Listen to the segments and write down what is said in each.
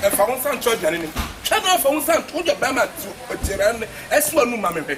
ɛfa wo nsa nto aduane no mu twɛ na afa wo nsa nto wode ɔbɛrima nto aduane no ɛso anum ma mehwɛ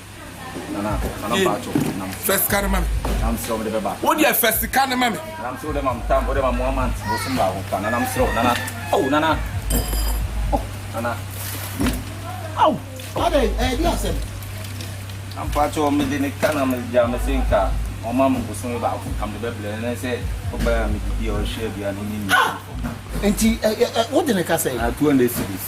wodeɛ fa sika no ma me ampakyɛ mede ne ka na megya me se nka ɔma me bosome baako ka mede bɛbrɛ ne sɛ ɔbɛa medidi a ɔhwɛ aduane ne nti wode ne ka sɛ 200 series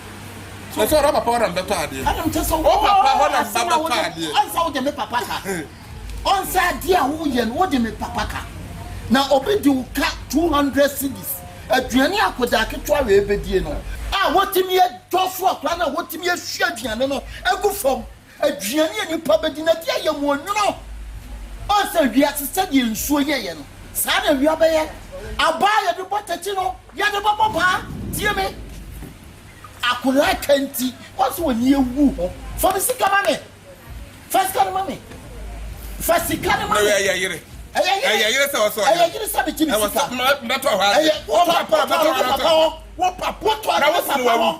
Kyerɛ sɛ ɔdɔ papa hɔ na mbɛtɔ adeɛ. Ɛna mekyerɛ sɛ ɔwɔ papa hɔ na mbɛtɔ adeɛ. Ɔnsɛ wode me papa ka. Ɔnsɛ adeɛ a woyɛ no wode me papa ka. Na obi de wo ka 200 cedis. Aduane a akwadaa ketewa wei bɛdie no a wɔtumi dwɔso akwadaa no a wɔtumi ahwie aduane no agu fam Aduane a nnipa bɛdi na ɛde ayɛ wɔn nwunu. Woahu sɛ wiase sɛdeɛ nsuo yɛeɛ no, saa na awia bɛyɛ. Abaa a yɛde bɔ tɛkyi no, yɛde bɛbɔ paa. Tie me, akwadaa ka nti, woahu sɛ w'ani awu ho. Fa me sika ma me. Fa sika no ma me. Fa sika no ma me. Ɛyɛ yere. Ɛyɛ yere sɛ ɔsɔ. Ɛyɛ yere sɛ megye me sika. Ɛwɔ sɛ mɛtɔ hɔ ase. Ɛyɛ wopapa wopapa hɔ. Wopapa wopapa hɔ. Na wofunu wawu.